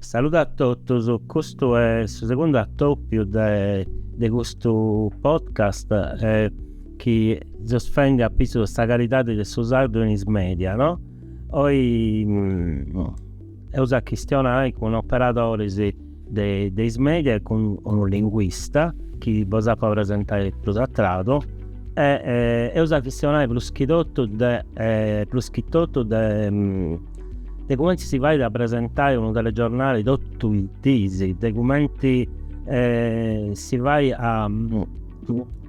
Saludu a totus, custu est su segundu atopiu de de custu podcast chi seus fendi a pitzus de sa calidadi de su sardu in is media no, oi Eus a chistionai cun operadoris de is media e cun unu linguista chi bos apu a presentai prus a tradu e eus a chistionai prus chi totu de prus chi totu de de cumenti si fait a presentai unu telegiornali totu is dis, de cumenti si fait a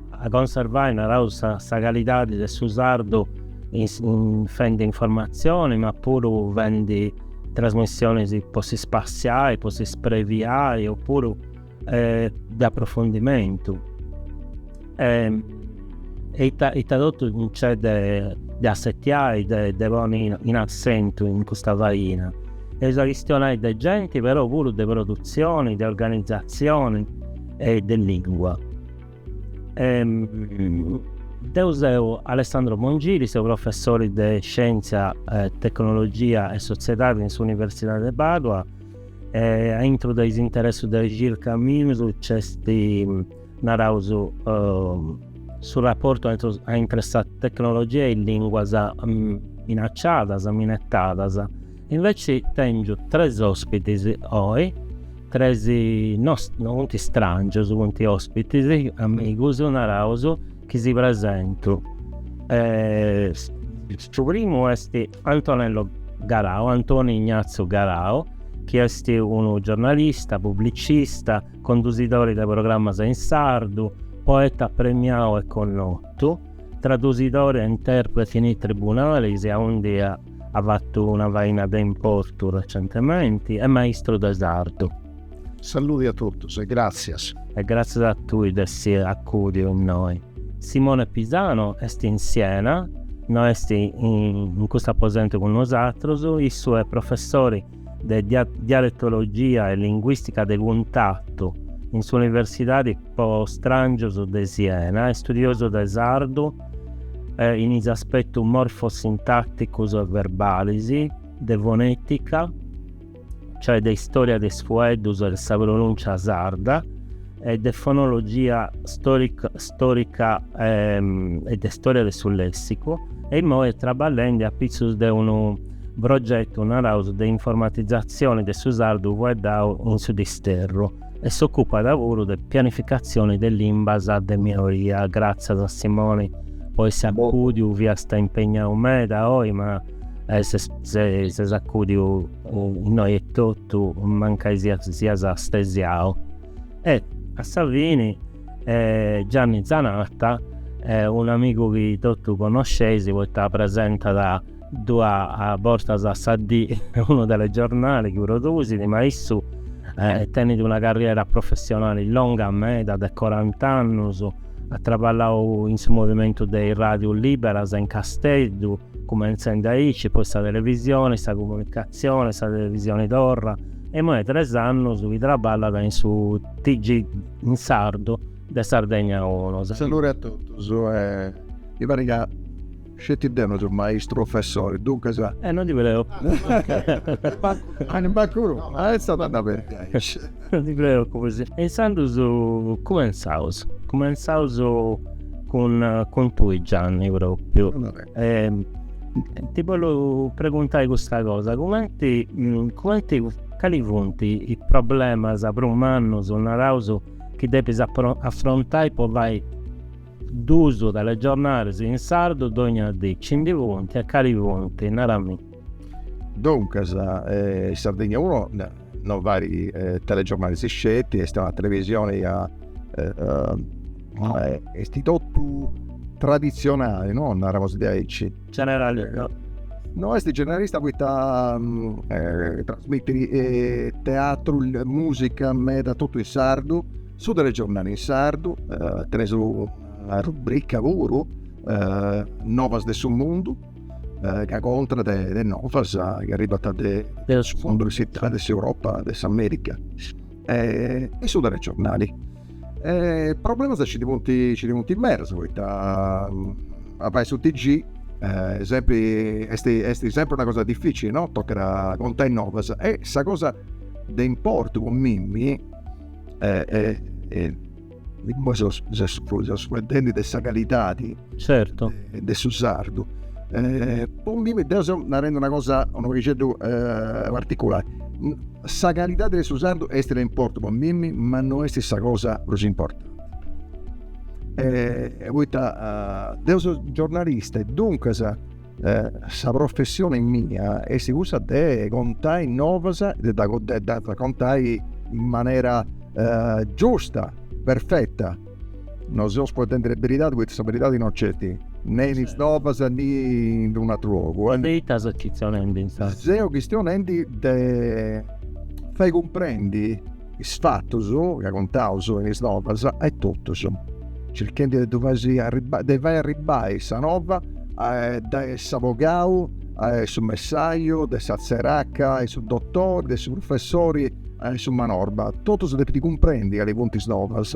a conservai, naraus, sa calidadi de su sardu fendi informatzioni ma puru fendi trasmissionis po si spassiai, po si spreviai o puru de approfundimentu e ita ita totu nc'est de de assetiai, de ponni in assentu in custa faina. Eus a chistionai de genti però puru de produtzioni, de organizatzioni e de lingua. Deu seu Alessandro Mongili, seu professori de Scientzia, Tecnologia e Sotziedadi in s'Universidadi de Pàdua e aintru de is interessus de circa mius nc'est, naraus, su raportu aintre sa tecnologia e is lìnguas minaciadas, minetadas Inveci tengiu tres ospitis oi, tres, no funt strangius, funt ospitis, amigus, naraus, chi si presentu. Su primu est Antonello Garau, Antoni Ignazio Garau, chi est unu giornalista, publicista, condusidori de programas in sardu, poeta premiau e connotu, tradusidori e interpreti in is tribunalis aundi at fatu una faina de importu recentementi, e maistru de sardu. Saludi a totus e gràtzias. E gràtzias a tui de essi acùdiu innoi. Simone Pisano est in Siena, no est in custu aposentu cun nosatrus, issu est professori de dialetologia e linguìstica de cuntatu in s'Universidadi po Stràngius de Siena, istudiosu de sardu in is aspetus morfosintàticus e verbalis, de fonètica, cioè de istòria de is fueddus e de sa pronùncia sarda. e de fonologia stòrica e de stòria de su lèssicu e imoi traballende a pitzus de unu progetu naraus de informatizatzioni de su sardu fueddau in su Disterru e s'òcupat puru de pianificatzioni de limbas de minoria. Gràtzias a Simoni po essi acùdiu, fiast impegnau meda oi ma. E ses acudiu innoi etotu, mancai sias astesiau. E a sa fini Gianni Zanatta, un'amigu chi totu connosceis poita presentat duas bortas a sa dì unu telegiornali chi produsit, ma issu tenit una carriera professionali longa meda de corant'annus, at traballau in su movimentu de is ràdius lìberas in Casteddu, Cumentzendi aici, poi sa televisioni, sa comunicatzioni, sa televisioni torra e imoi est tres annus chi traballat in su TG in sardu de Sardegna Unu. Saluri a totus e mi parit ca sceti deu no seu maistu, professori, duncas. E no ndi perdeu. Mancu mancu unu. Est a dda perdi aici. Non ti creu aici. E intzandus cumentzaus, cumentzaus cun cun tui Gianni propriu. Ti bollu preguntai custa cosa, cumenti cumenti cali funt is problemas prus mannus, naraus, chi depis afrontai po fai duus telegiornalis in sardu dogna dì, nci ndi funt e cali funt, narami. Duncas, in Sardegna unu non fait telegiornalis sceti, est una televisioni ca est totu traditzionali, no, naraus diaici. Generalista. No est generalista poita trasmitit teatru, musica, meda totu in sardu, su telegiornali in sardu, teneus una rubrica puru, novas de su mundu eh, ca contat de novas chi arribant de, de su fundu de s'Italia, de s'Europa, de s'America e, e su telegiornali. E problemas ci ndi funt, ci ndi funt medas, poita mm, a fai su TG eh, sempri, est, est sempri una cosa difìcili, no? Tocat a contai novas. E sa cosa de importu po mimmi eh, eh, eh, Imoi seus fueddendi de sa calidadi, certu, de su sardu. Po mimmi, deu seu narendi una cosa, unu paghixeddu particulari, sa calidadi de su sardu est de importu po mimmi ma no est sa cosa prus importanti. Poita deu seu giornalista e duncas Sa professione mia est cussa de contai novas e de ddas contai in manera giusta, perfetta. Non seus fueddendi de beridadi poita sa beridadi non nc'est, ne in is novas ne in unu ateru logu. De ita ses chistionendi insaras? Seu chistionendi de fai cumprendi Is fatus ca contaus in is novas a totus, circhendi de ddu fai arribai, de fai arribai sa nova de s'abogau a su messaju de sa tzeraca a su dotori de su prufessori a su manorba, totus depint cumprendi cali funt is novas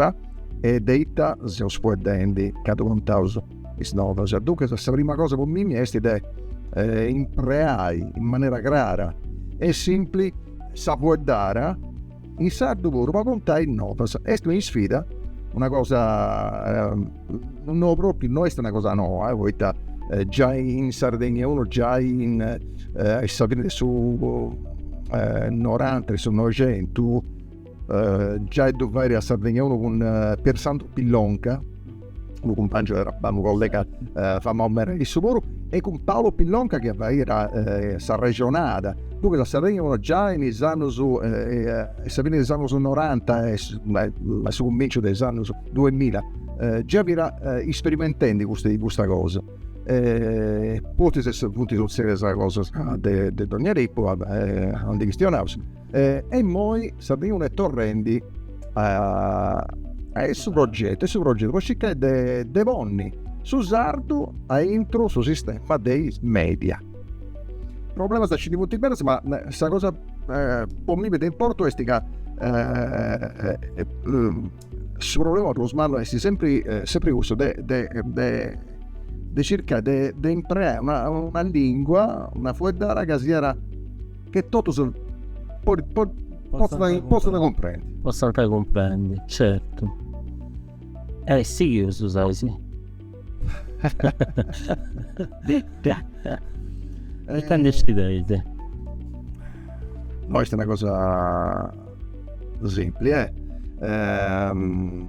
e de ita seus fueddendi candu contaus. is novas. Duncas sa prima cosa po mimi est de impreai in manera crara e simpli sa fueddara in sardu puru po contai novas. Est una isfida, una cosa no propriu, no est una cosa noa poita giai in Sardegna unu giai in a sa fini de su noranta de su noixentu giai ddu fairi a Sardegna unu cun Pier Sandru Pillonca, unu cumpangiu de traballu, unu collega famau meda issu puru, e cun Paolo Pillonca chi faira s'arrexonada, duncas a Sardegna unu giai in is annus, a sa fini de is annus noranta e a su cuminciu de is annus duemilla, giai fiat isperimentendi custa cosa. Pustis funt sutzedias cosas de dogna tipu, non ndi chistionaus E, e immoi Sardegna unu est torrendi a, a su progetu, su progetu, po circai de, de ponni su sardu aintru su sistema de is media. Problemas nci ndi funt medas, ma sa cosa po mimi de importu est ca Su problema prus mannu est sempri sempri cussu de de de de circai de de impreai una una lingua, una fueddada ca siat che totus potzant potzant cumprendi. Potzant cumprendi, certu. E sighius, Sasi? e tende si tende no est una cosa simpli eh ehm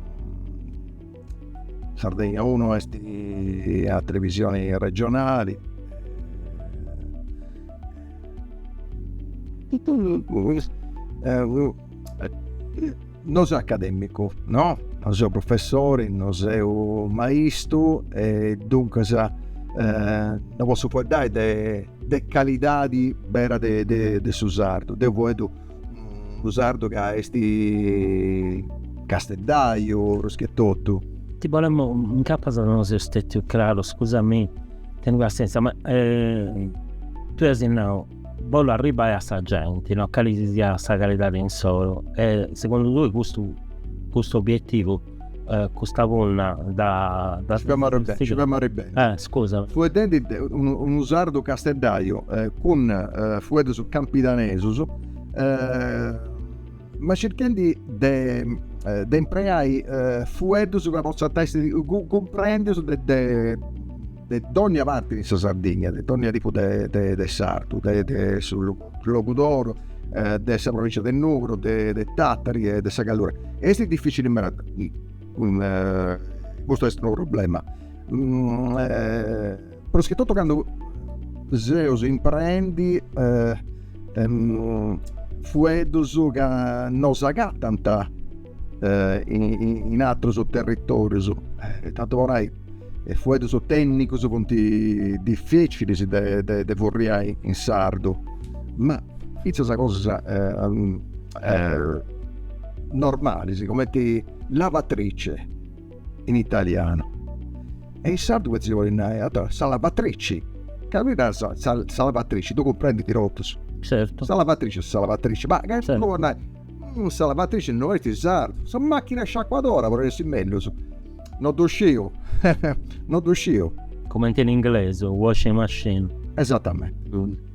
Sardegna uno est a televisioni regionali No seu academicu, no, no seu professori, no seu maistu e duncas no possu fueddai de calidadi bera de de de su sardu. Deu fueddu unu sardu ca esti casteddaiu prus che totu. Ti bolemu nai, incapas no seu stetiu craru, scusamì, teni passienzia, ma tui asi nau, Bolu arribai a sa genti, no cali si siat sa calidadi insoru, e segundu tui custu custu obietivu, custa punna dda. Ci femu arribendi, ci femu arribendi. Eh scusa. Fueddendi de unu unu sardu casteddaiu cun fueddus campidanesus ma circhendi de de impreai fueddus ca potzant essi cumprendius de de de dònnia parti de sa Sardigna, de dònnia tipu de de de sardu, de de su Logudoru, de sa provincia de Nugoro, de de Tàtari e de sa Gallura. Est dificili meda custu est unu problema prus chi totu candu seu impreendi fueddus ca no s'agatant in aterus territorius, tanti po nai is fueddus tènnicus funt dificilis de furriai in sardu, ma fintzas cosas normalis, cumenti lavatrice in italianu. E in sardu petzi podis nai sa lavatrici, ca chi naras sa lavatrici, ddu cumprendint totus. Certu. Sa lavatrici est sa lavatrici, ma che ddu podis nai, sa lavatrici no est in sardu, sa machina sciacuadora podit essi mellus No ddu sciu, no ddu sciu. Cumenti in inglesu, washing machine. Esatamenti.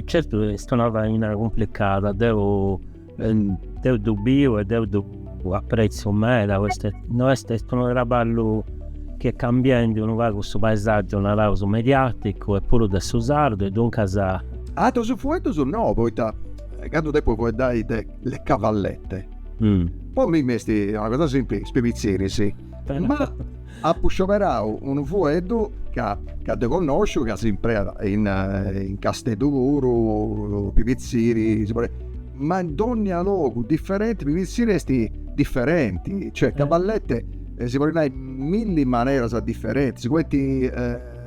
Certu est una faina cumplicada, deu deu ddu biu e deu ddu apprezzu meda, poita no est, est unu traballu chi est cambiendi unu pagu su paesaggiu, naraus, mediaticu e puru de su sardu e duncas. Atrus fueddus no, poita candu depu fueddai de le cavallette, Po mimmi est una cosa simpli, is pibitziris, ma apu scioberau unu fueddu ca ca ddu connosciu ca s'impreat in in Casteddu puru, pibitziri, ma in dónnia logu diferenti, pibitziri est diferenti, cioè cavallette si podit nai in milli maneras diferentis, cumenti,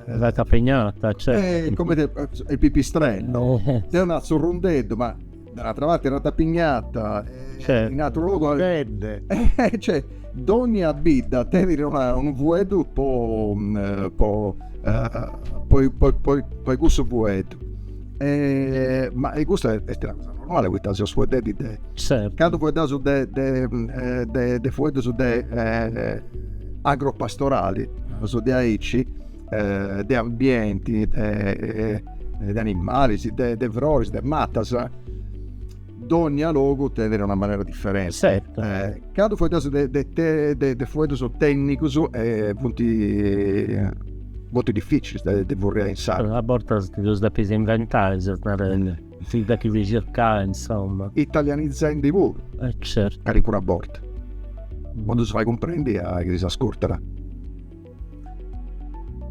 ratapignata, cioè, cumenti il pipistrello, deu nau zurrundeddu ma Da un'atra parte arratapignata, e in atru logu alibedde. E cioè, dogna bidda tenit una, unu fueddu po, po, poi, poi, poi, poi cussu fueddu. E, ma e custa est una cosa normale poita seus fueddendi de. Certu. Candu fueddaus de, de, de, de fueddus de agropastorali, naus diaici de ambienti, de animalis, de froris, de matas, dònnia logu tenit una manera diferenti. Certu. Candu fueddaus de de de fueddus tènnicus funt moltu dificilis de ddus furriai in sardu. A bortas ti ddus depis inventai, seus narendi, si depis circai, insoma. Italianizendi puru. E certu. Calincuna borta. Po ddus fai cumprendi a is chi ddus ascurtant.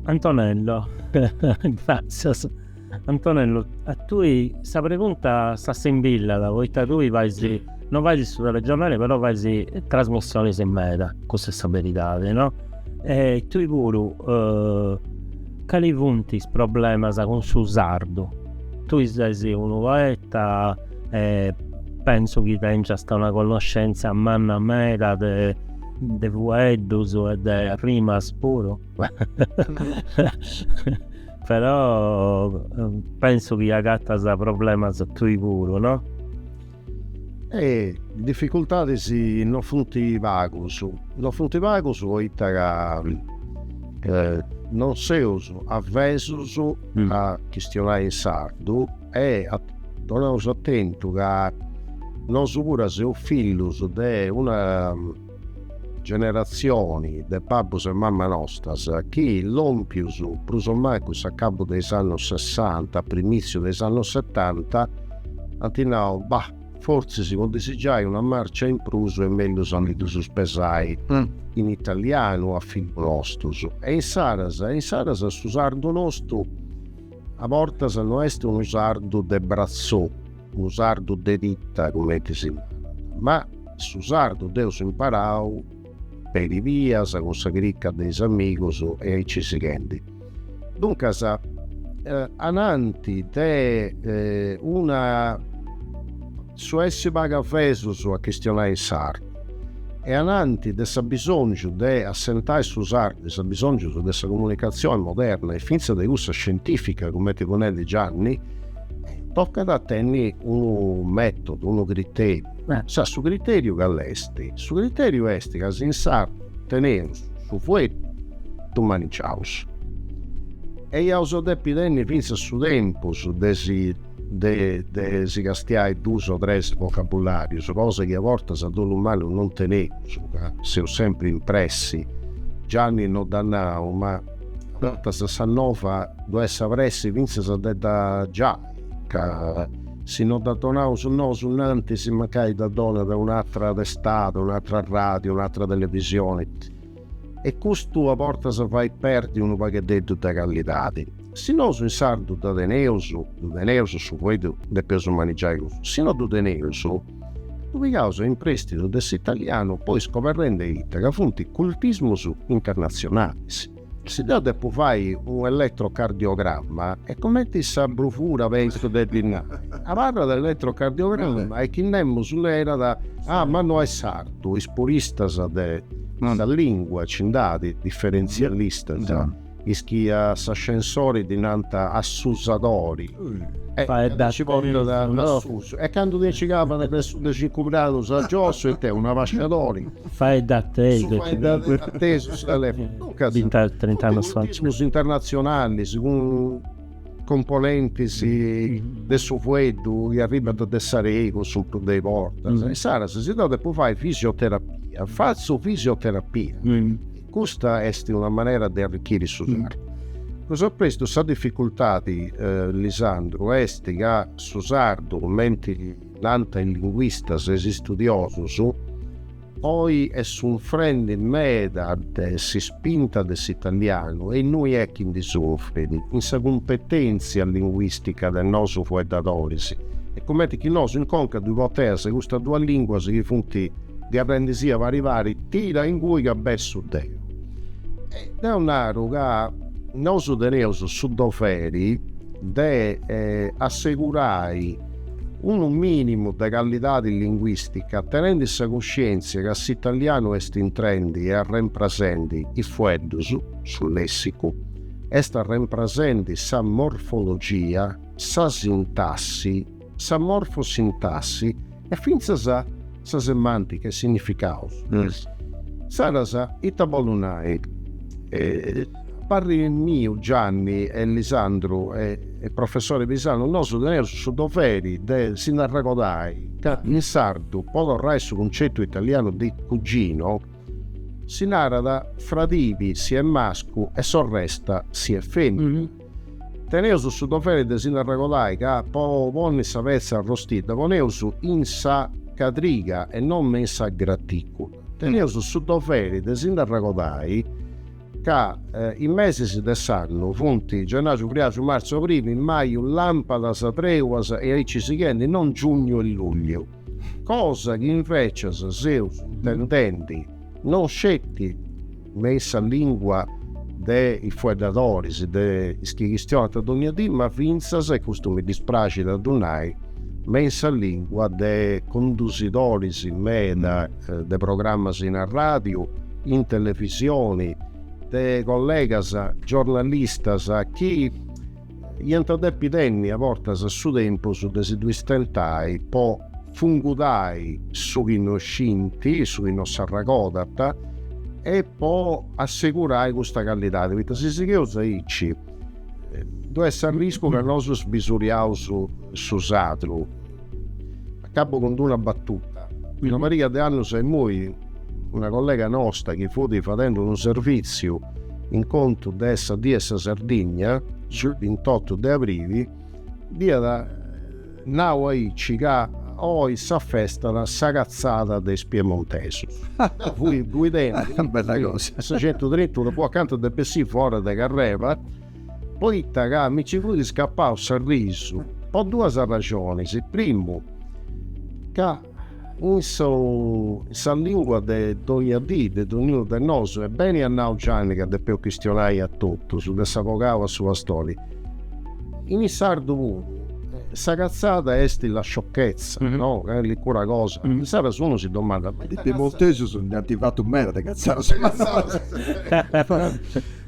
Antonello, Gràtzias. Antonello, A tui sa pregunta s'assimbillat, poita tui fais, no fais su telegiornali però fais trasmissionis meda, cussa est sa beridadi, no? E tui puru, cali funt is problemas cun su sardu? Tui ses unu poeta e pentzu chi tengiasta una connoscentzia manna meda de de fueddus e de rimas puru però pensu chi agatas problemas tui puru no? Eh difficultadis non funt pagus, non funt pagus poita ca non seus avesus a chistionai in sardu e donaus atentu ca nosu puru seus fillus de una generatzioni de babbus e mamma nostras chi lompius prus o mancu s'acabu de is annus sessanta, a primìtziu de is annus setanta, ant nau, bah, fortzis po ddis giai una marcia in prus est mellus a ndi ddus pesai in italianu a fillus nostus. E insaras, insaras su sardu nostu A bortas no est unu sardu de bratzou, unu sardu de tita cumenti si narat, ma su sardu dd'eus imparau peri bias cun sa crica de is amigus e aici sighendi. Duncas, ananti de una. Su essi pagu avesus a chistionai in sardu e ananti de s'abisòngiu de assentai su sardu a is abisòngius de sa comunicatzioni moderna e fintzas de cussa scientìfica, cumenti fut nendi Gianni, tocat a tenni unu mètodu, unu critèriu. Su critèriu cali est? Su critèriu est ca si in sardu teneus su fueddu ddu manigiaus e iaus a depi tenni fintzas su tempus de si de de si castiai duus o tres vocabularius, cosa chi a bortas a dolu mannu non teneus, ca seus sempri in pressi. Gianni no dd'at nau, ma a bortas sa nova ddu est sa pressi fintzas de dda giai, ca si no dda donaus nosu innantis, mancai dda donat un'atra testada, un'atra radiu, un'atra televisioni. e custu a bortas fait perdi unu pagheddeddu de callidadi. Si nosu in sardu dda teneus, ddu teneus su foeddu depeus manigiai cussu, si no ddu teneus ddu pigaus a imprestidu de s'italianu poi scoberrende ita ca funt cultismus internatzionalis. Si deu depu fai unu elettrocardiogramma e cumenti sa brufura pentzu de ddi nai, abarrat elettrocardiogramma e chi nemus nerat, ah ma no est sardu. Is puristas de sa lìngua nci nd'at diferentzialistas, is chi a s'ascensori ddi nant assusadori, e nci portat a susu, e candu ti nci calat de su de cincu gradus a giossu e it'est, un'abasciadori, su faeddatesu, su telèfonu, duncas, is internazionalis cun componentis de su fueddu chi arribant de s'aregu su prus de is bortas, insaras si deu depu fai fisioterapia, fatzu fisioterapia. Custa est una manera de arricchiri su sardu. Prus a prestu sa dificultadi, Lisandru, est ca su sardu, cumenti nant is linguistas e is studiosus, Oi est sunfrendi meda de s'ispinta de s'italianu e innui est chi ndi sunfrit, in sa cumpetentzia linguistica de nosu fueddadoris est cumenti chi nosu in conca ddoi porteus custas duas linguas chi funt ddi aprendisì a pari pari tira ingui ca bessu deu. E deu naru ca nosu teneus su doveri de assegurai unu mìnimu de callidadi linguìstica tenendi sa cuscièntzia ca s'italianu est intrendi e arremprasendi is fueddus, su lèssicu, est arremprasendi sa morfologia, sa sintassi, sa morfosintassi e fintzas sa semantica, is significaus. Insaras ita bollu nai? Parri miu Gianni e Lisandru e e professori Pisanu, nosu teneus su doveri de si nd'arregodai ca in sardu po torrai su cuncettu italianu de cugino si narat fradibi si est mascu e sorresta si est femina. Teneus su doveri de si nd'arregodai ca po ponni sa petza arrostidda poneus in sa cadriga e non me in sa gratìcula. Teneus su doveri de si nd'arregodai ca is mesis de s'annu funt gennaxu, friaxu, martzu, abrilu, maju, làmpadas, trèulas e aici sighendi, non giugnu e lugliu. cosa chi invècias seus intendendi non sceti me in sa lìngua de is fueddadoris, de is chi chistionant dònnia dì, ma fintzas, e custu mi dispraxit a ddu nai, me in sa lìngua de condusidoris meda de programmas in arràdiu, in televisioni, de collegas giornalistas chi, Iant a depi tenni a bortas su tempus de si ddui stentai po fungudai su chi no scint, su chi no s'arragodant e po assegurai custa callidadi, poita si sigheus aici ddu est s'arriscu ca nosu sbisuriaus su sadru. Acabu cun una battuta. Una pariga de annus a immoi una collega nostra chi fut fadendi unu servìtziu in contu de sa Die de sa Sardigna, su bintottu de abrili, dd'iat nau aici ca oi s'afestat sa catzada de is piemontesus. Deu fui guidendi sa centu e trintunu po acanta de bessì fora de carrera poita ca mi nci fut scappau s'arrisu po duas arraxonis, primu, ca in su in sa lingua de dogna dì de donniunu de nosu, e beni at nau Gianni ca depeu chistionai a totus, de s'abogau a su pastori, in su sardu puru sa catzada est la sciocchezza, no, est cudda cosa, insaras unu si domandat, ma ita catzada est. Is piemontesus nd'ant fatu meda de catzadas.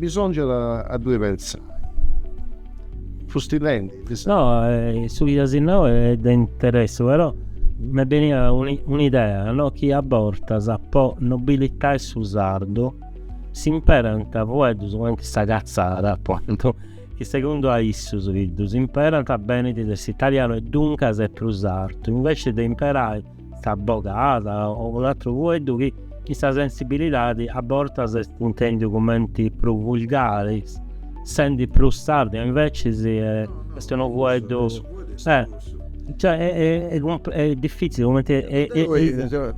Bisòngiat a ddui pentzai. Fusti lendi, ti sa. No, su chi as nau est de interessu, però m'est benida un'idea, no, chi a bortas po nobilitai su sardu s'imperant fueddus cumenti sa catzada, apuntu, chi segundu a issus chi ddus imperant benit de s'italianu e duncas est prus artu, inveci de imperai sa bogada o un'atru fueddu chi in sa sensibilidadi a bortas est intendiu cumenti prus vulgari, sendi prus sardu e invecis est unu fueddu est diffitzili cumenti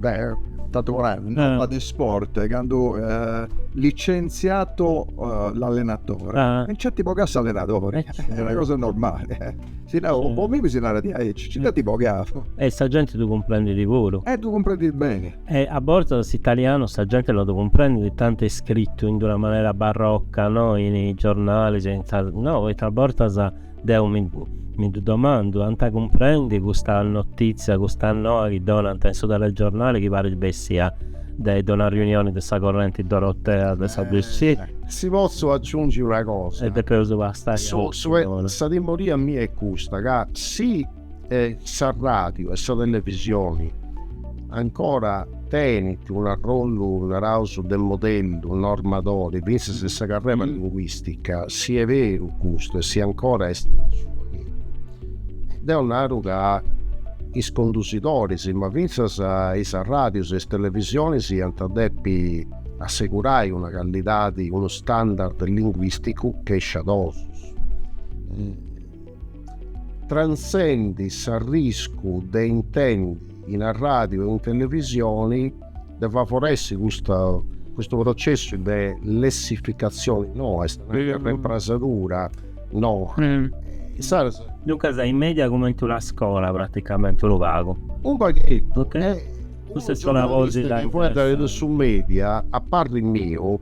Deu tantu po nai, in tema de sport candu licentziato l'allenatore, nci ant bogau s'allenadori, est una cosa normali Si no, po mimi si narat diaici, ci dd'ant boghiadu. E sa genti ddu cumprendit puru. E ddu cumprendit beni. E a bortas s'italianu sa genti no ddu cumprendit tanti est scritu in d'una manera barroca, no, in is giornalis, in sa, no, poita a bortas deu mi mi ddu domandu, ant a cumprendi custa notìtzia, custa noa chi donant in su telegiornali chi parit bessia de de una riunioni de sa correnti dorotea de sa Dc? Si potzu aciungi una cosa. E depeus bastai. Sa timoria mia est custa, ca si sa ràdiu e sa televisioni ancora tenint un'arrollu, naraus, de modellu, normadori, fintzas in sa carrera linguìstica, si est beru custu e si ancora est in su fagheddu, deu naru ca is condusidoris, ma fintzas is ràdius e is televisionis iant depi assegurai una callidadi, unu standard linguisticu chi sciadosus tra s'essendi s'arriscu de intendi in arradiu e in televisioni de favoressi custa custu processu de lessificatzioni no, est una reimprasadura no. Insaras. Duncas is media cumenti una scola praticamenti unu pagu. Unu pagheddu. Ok. Custa est una cosita interessante. Poita ca in su media, a parri miu,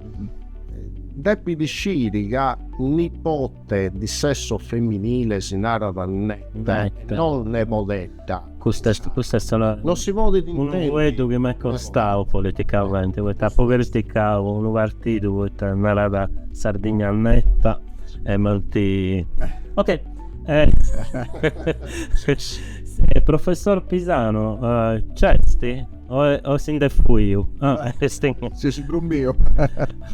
depit sciri ca nipote di sesso feminile si narat neta e non nebodedda. Custa est, custa est una, non si podit intendi, unu fueddu chi m'est costau politicamenti, poita apu criticau unu partidu poita narat Sardigna neta e m'ant, ok Eh, eh, professor Pisano, eh, c'esti? O, o si nde fuiu? Ah, esti... Si si brumbio.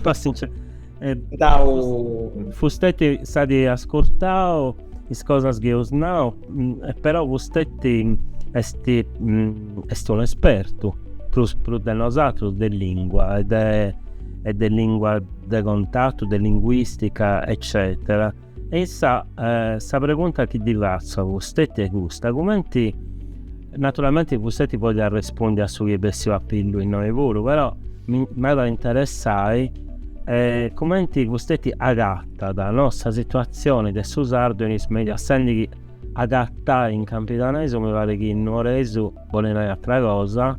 Passince. Eh, Dau... Fustetti at ascurtau is cosas chi eus nau, mm, eh, però fustetti esti, mm, esti un espertu, prus, prus de nosatrus, de lingua e de, e de lingua de contatu, de linguistica, eccetera. E insaras, sa pregunta chi ddi fatzu a fustetti est custa, cumenti, naturalmenti fustetti podit arrespondi a su chi est bessiu a pillu innoi puru, però m'at a interessai cumenti fustetti agatat no, sa situatzioni de su sardu in is media, essendi chi agatai in campidanesu mi parit chi in nuoresu bolit nai atra cosa,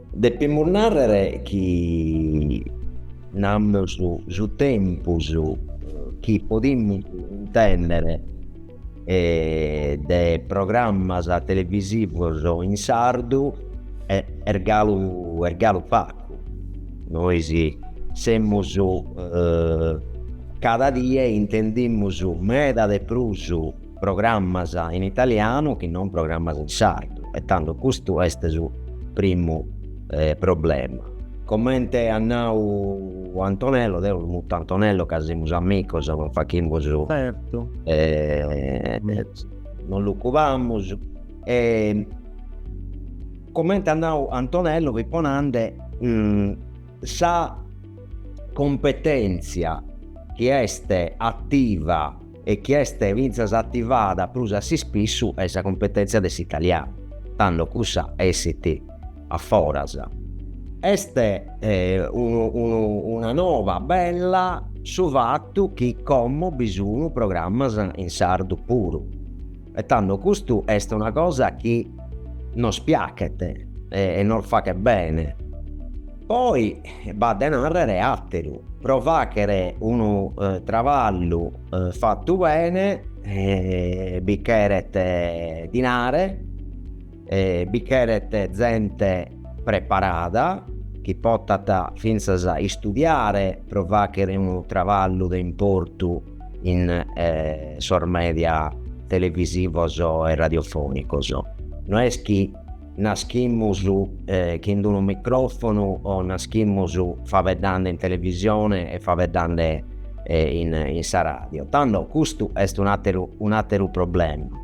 Depimus nàrrere chi namus su tempus chi podimus intènnere de programmas televisivos in sardu est galu est galu pagu. Nois semus cada die intendimus meda de prus programmas in italianu chi non programmas in sardu e tando custu est su primu problema. Comente at nau Antonello, deo lu mutu Antonello ca semus amicos non fachimus, non lu cubamus, comente at nau Antonello, fipo nande sa competentzia chi est ativa e chi est fintzas ativa prus a s'ispissu est sa cumpetèntzia de s'italianu, tando cussa essit a foras. Est una noba bella su fatu chi como bi sun programmas in sardu puru. E tando custu est una cosa chi nos piachet e nos fachet bene. Poi b'at de nàrrere àteru, pro fàchere unu traballu fatu bene bi cheret dinare, Bi cheret zente preparada, chi potat fintzas istudiare pro fàchere unu traballu de importu in sos mèdia televisivos e radiofònicos. No est chi naschimus chin d'unu micròfonu o naschimus fabeddande in televisione e fabeddande in sa ràdio. Tando custu est un'àteru un'àteru problema.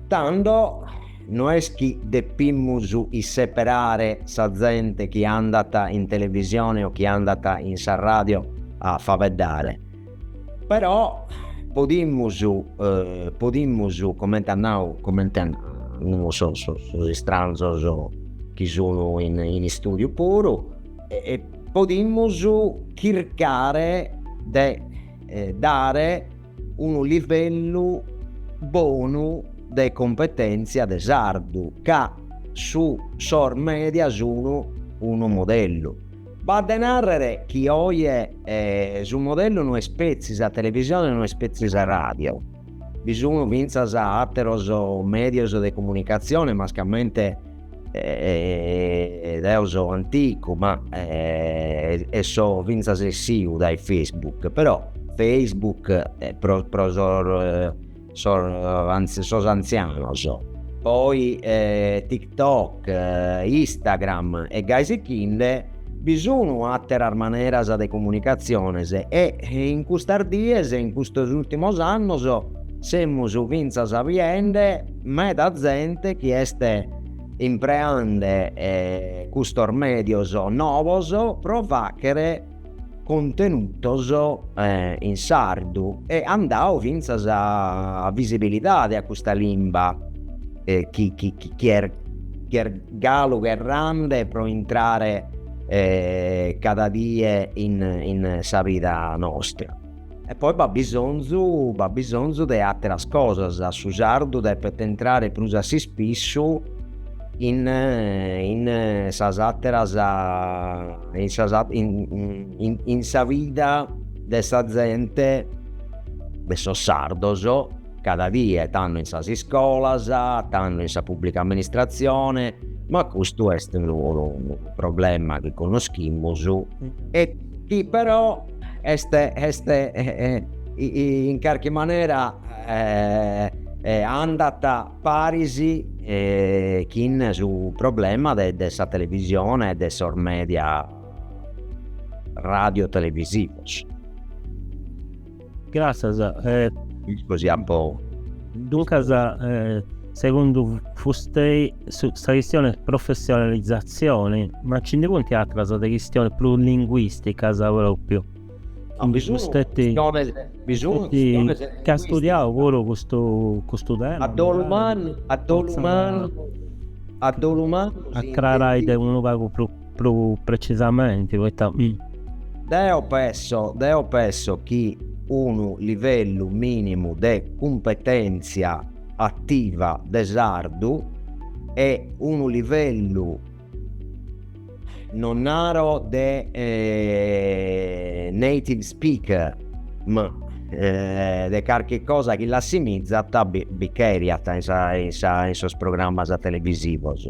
Tando no est chi depimus isseperare sa zente chi andat in televisione o chi andat in sa ràdio a fabeddare, però podimus, podimus, comente at nau, comente an nau sos sos istranzos chi sun in in istùdiu puru, e podimus chircare de dare unu livellu bonu de competentzia de sardu, ca su sos media sun unu modellu. B'at de nàrrere chi oje su modellu no est petzi sa televisione, no est petzi sa ràdio, bi sun fintzas àteros mèdios de comunicatzione, mascamente, e deo so anticu ma e so finzas essiu dae Facebook però Facebook est pro pro sos sos sos anzianos poi e TikTok e Instagram e gai sichinde bi sun atteras maneras de comunicaziones e in custas dies e in custos ultimos annos semus finzas biende meda zente chi est impreande custos medios novos pro faghere contenutos in sardu e at dadu fintzas visibilidade a custa limba chi chi est chi est galu cherrande pro intrare cada die in sa vida nostra. E poi b'at bisonzu, b'at bisonzu de àteras cosas, su sardu depet intrare prus a s'ispissu in in sas àteras in sas in in sa vida de sa zente, de sos sardos, cada die tando in sas iscolas, tando in sa pubblica amministratzione, ma custu est unu problema chi connoschimus e chi però Est, est in carchi manera andat paris chin su problema de de sa televisione e de sos media radio televisivos. Gràtzias. Isco si apo. Duncas Segundu Fustei sa chistioni est professionalizatzioni, ma nci ndi funt atras de chistionis prus linguisticas propriu, chi fusteit chi at studiau puru custu tema, fortzis a acrarai de unu pagu prus precisamenti, poita. Deo penso, deo penso chi unu livellu minimu de cumpetentzia. ativa de sardu e unu livellu non naro de native speaker ma de carchi cosa chi l'assimizat bi cheriat in sos programmas televisivos.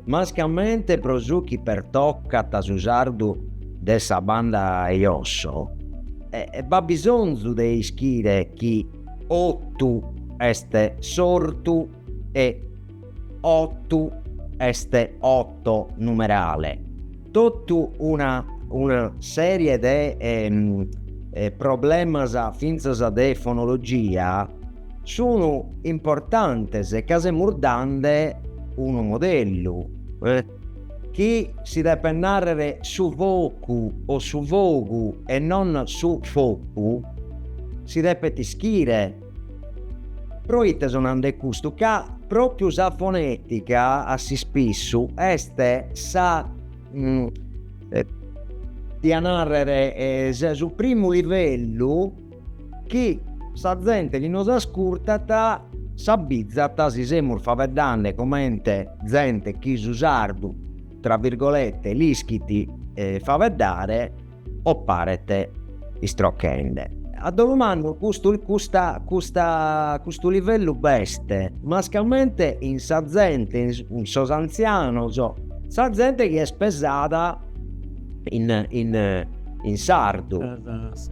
Mascamente pro su chi pertocat su sardu de sa banda 'e josso, b'at bisonzu de ischire chi ottu est s'ortu e ottu est otto numerale, totu una una sèrie de problemas fintzas de fonologia, Sunu importantes e ca semus dande unu modellu, chi si depet nàrrer su vocu o su fogu e non su focu, si depet ischire, proite so nande custu, ca pròpiu sa fonètica a s'ispissu est sa, diat nàrrer, su primu livellu. chi sa zente chi nos ascurtat s'abbizat si semus faeddande comente zente chi su sardu tra virgolette l'ischit faeddare o paret istrochende. A dolu mannu, custu custa custa custu livellu b'est mascamente in sa zente in sos antzianos sa zente chi est pesada in sardu.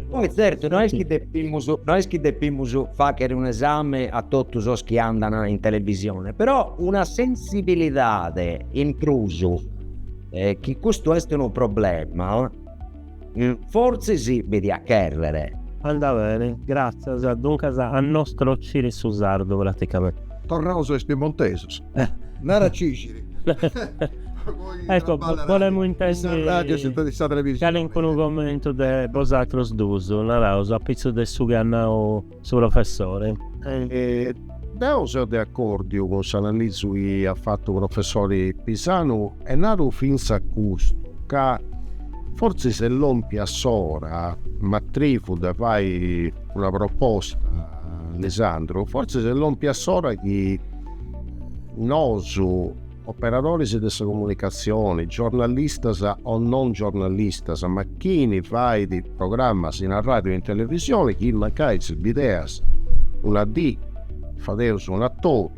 Poi zertu no est chi depimus no est chi depimus fàghere un'esame a totu sos chi andant in televisione, però una sensibilidade in prus, chi custu est unu problema, fortzis bi diat chèrrere. Andà bene, gràtzias. Duncas a no istrocire su sardu praticamente. Torraus a is piemontesus. Nara Cixiri. Ecco, bolemu intendi calincunu commentu de bosatrus duus, naraus apitzus de su chi at nau su professori. Deu seu de accordiu cun s'analisi chi at fatu professori Pisanu e naru finzas custu, ca fortzis est lompia s'ora, m'atrivu de fai, Una proposta, Lisandru, fortzis est lompia s'ora chi nosu operadoris de sa comunicatzioni, giornalistas o non giornalistas, ma chini fait programmas in arràdiu e in televisioni, chi mancai si bideas una dì fadeus un'atobiu,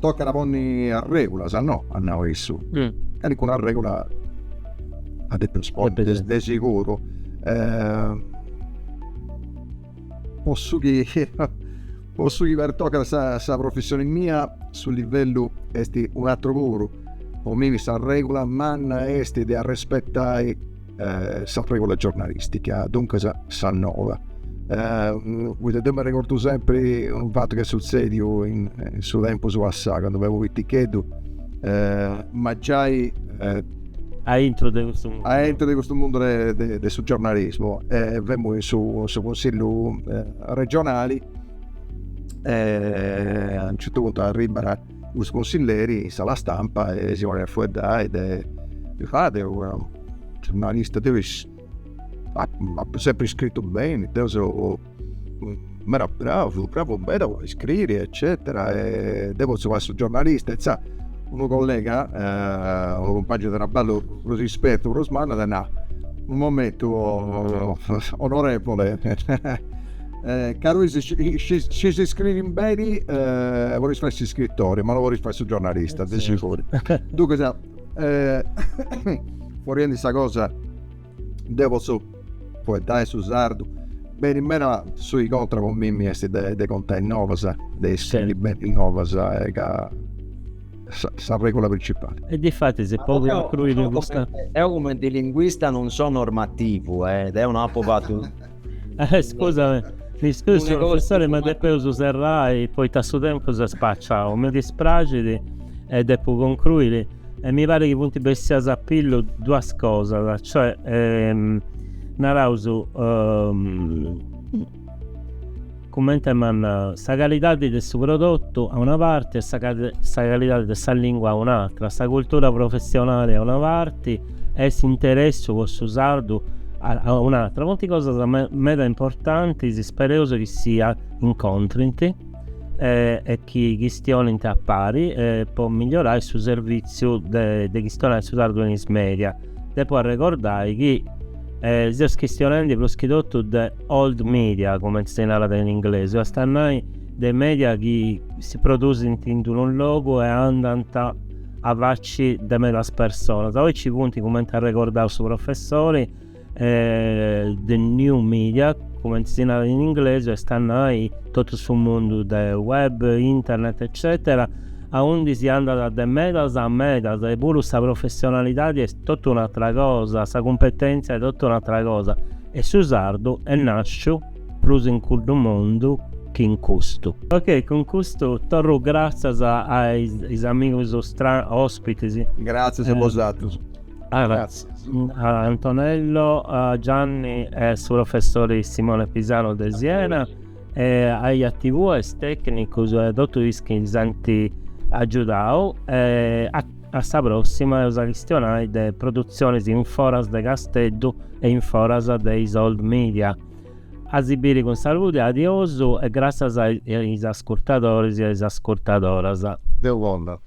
Tocat a ponni arrègulas, no? at nau issu. Calincuna arrègula at a depi ponni, de siguru. Po su chi po su chi pertocat sa sa professioni mia, su livellu est un'atru puru. Po mimi s'arrègula manna est de arrespetai eh, s'arrègula giornalistica, duncas sa nova. Eh, poita deu mi arregordu sempri unu fatu chi est sutzediu in, in su tempus passau, candu femu piticheddu, eh, ma giai... Eh, a intru de custu mundu a intru de custu mundu de, de, de su giornalismu eh, femu in su, su consigliu eh, regionali eh, a unu certu puntu arribat Custu consilleri in sala stampa e si ponit a fueddai de fai su giurnalista deu. Apu sempri scritu beni, deu seu meda bravu, bravu meda po scriri eccetera e deu potzu fai su giornalista, insaras unu collega, unu cumpagnu de traballu prus ispertu, prus mannu at nau, unu momentu onorevole Eh, caru, si scis iscriri beni, eh, bolis fai s'iscritori, ma no bolis fai su giornalista, de siguru. Duncas, eh, foriendi sa cosa, deu potzu foeddai su sardu beni, ma su chi contat po mimmi esti de, de contai novas, de iscriri beni novas, eh, ca sa, sa regula principali. E difatis e po cuncruiri custu. Deu cumenti linguista non so normativu, eh, deu no apu fatu Eh, scusami, mi scusi professore, ma depeus serrai poita su tempus est spaciau. Mi dispraxit e depu concruiri e mi parit chi funt bessias a pillu duas cosas, cioè ehm, naraus ehm, Cumenti a nai, sa calidadi de su prodotu a una parti e sa calidadi de sa lingua a un'atra, sa cultura professionali a una parti e s'interessu po su sardu a un'atra, funti cosas meda importantis, ispereus chi si incontrint e chi chistionint a pari po migliorai su servitziu de chistionai su sardu in is media. Depu arregordai chi seus chistionendi prus chi totu de. old media, cumenti si narat in inglesu, est a nai de media chi si produsint in unu logu e andant a faci de medas personas. Oi nci funt, cumenti at regordau su professori, the new media, cumenti si narat in inglesu, est a nai totu su mundu de web, internet eccètera, aundi si andat de medas a medas e puru sa professionalidadi est totu un'atra cosa, sa cumpetèntzia est totu un'atra cosa. E su sardu est nàsciu prus in cuddu mundu chi in custu. Ok, cun custu torru gràtzias a is amigus òspitis. Gràtzias a bosatrus. Gràtzias. A Antonello, a Gianni e a su professori Simone Pisano de Siena. e a totus is tècnicus e totus is chi s'ant agiudau e a a sa pròssima eus a chistionai de produtzionis in foras de Casteddu e in foras de is old media. A si biri cun salude, adiosu e gràtzias a is ascurtadoris e a is ascurtadoras. Deu conda.